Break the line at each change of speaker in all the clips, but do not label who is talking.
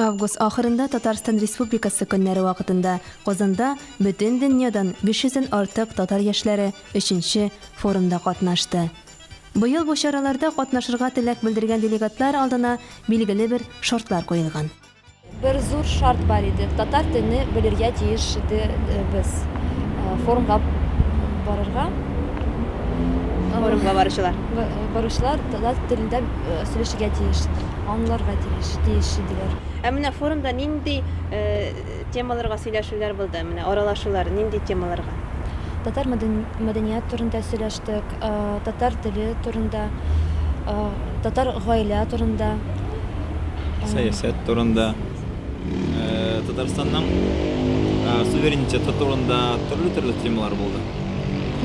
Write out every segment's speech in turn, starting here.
Август ахырында Татарстан Республикасы көннәре вакытында Казанда бөтен дөньядан 500 дән артык татар яшьләре 3 форумда катнашты. Быел бу чараларда катнашырга теләк белдергән делегатлар алдына билгеле бер шартлар куелган. Бер зур
шарт бар иде, татар телне белергә тиеш иде э, без э, форумга барырга.
Форумга баручылар.
Баручылар татар телендә э, сөйләшергә тиеш. аңларга тиеш, тиеш иделәр. Ә менә форумда
нинди темаларга сөйләшүләр булды, менә аралашулар нинди темаларга? Татар
мәдәният турында сөйләштек, татар теле турында, татар гаилә турында.
Сәясәт турында, Татарстанның суверенитеты турында төрле-төрле темалар булды.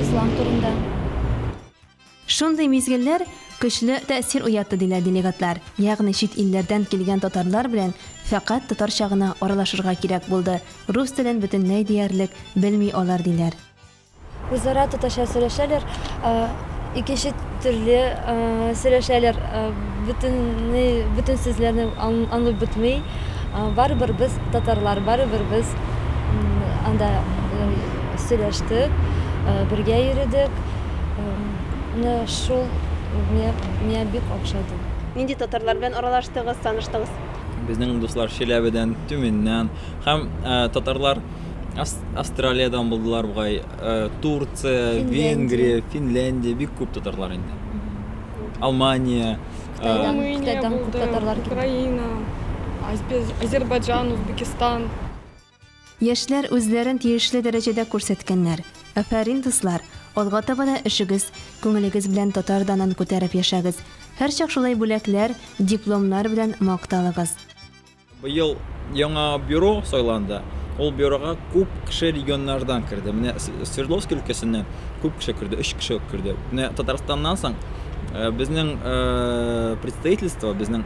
Ислам
турында.
Шундый мизгелләр көчле тәэсир уятты, диләр делегатлар. Ягъни чит илләрдән килгән татарлар белән фәкать татарча гына аралашырга кирәк булды, рус телен бөтенләй диярлек белми алар, диләр. Үзара
татарча сөйләшәләр, икенче төрле сөйләшәләр, бөтенләй бөтен сүзләрне аңлап бетми. Барыбер без татарлар, барыбер без анда сөйләштек, бергә йөредек. Менә шул миңа бик охшады. Нинди татарлар
белән аралаштыгыз, таныштыгыз? Безнең дуслар
Чиләбедән, Тюменьнән һәм татарлар Австралиядән булдылар бугай, Турция, Венгрия, Финляндия, бик күп татарлар инде. Алмания,
Кытайдан күп татарлар килде. Украина,
Азербайджан, Узбекистан.
Яшьләр үзләрен тиешле дәрәҗәдә күрсәткәннәр. Афәрин, дуслар! Алга таба да эшегез, күңелегез белән татар данын күтәреп яшәгез. Һәрчак шулай бүләкләр, дипломнар белән макталыгыз. Быел
яңа бюро сайланды. Ул бюрога күп кеше регионнардан керде. Менә Свердловск өлкәсеннән күп кеше керде, өч кеше үк керде. Менә Татарстаннан соң безнең представительство, безнең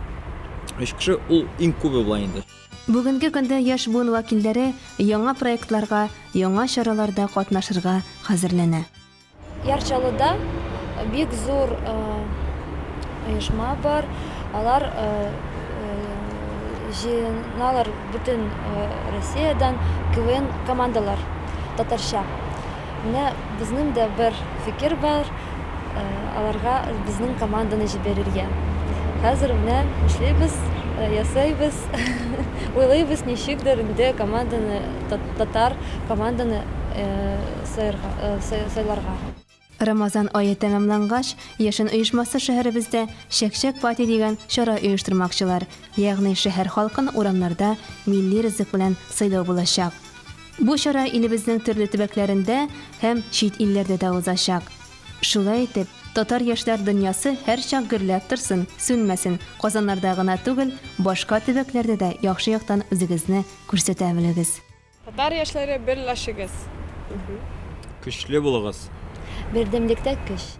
өч кеше ул иң күбе була инде. Бүгенге көндә
яшь буын вәкилләре яңа проектларга, яңа чараларда катнашырга хәзерләнә. Яр
Чаллыда бик зур оешма бар, алар җыеналар бөтен Россиядән, КВН командалар татарча. Менә безнең дә бер фикер бар, аларга безнең команданы җибәрергә. Хәзер менә эшлибез, ясыйбыз, уйлыйбыз, ничектер инде команданы, татар команданы сайларга. Рамазан
ае тәмамлангач, Яшен оешмасы шәһәребездә Чәкчәк пати дигән чара оештырмакчылар, ягъни шәһәр халкын урамнарда милли ризык белән сыйлау булачак. Бу чара илебезнең төрле төбәкләрендә һәм чит илләрдә дә узачак. Шулай итеп, татар яшьләр дөньясы һәрчак гөрләп торсын, сүнмәсен, Казаннарда гына түгел, башка төбәкләрдә дә яхшы яктан үзегезне күрсәтә белегез! Татар яшьләре
берләшегез! Көчле
булыгыз!
Бердәмлектә көч!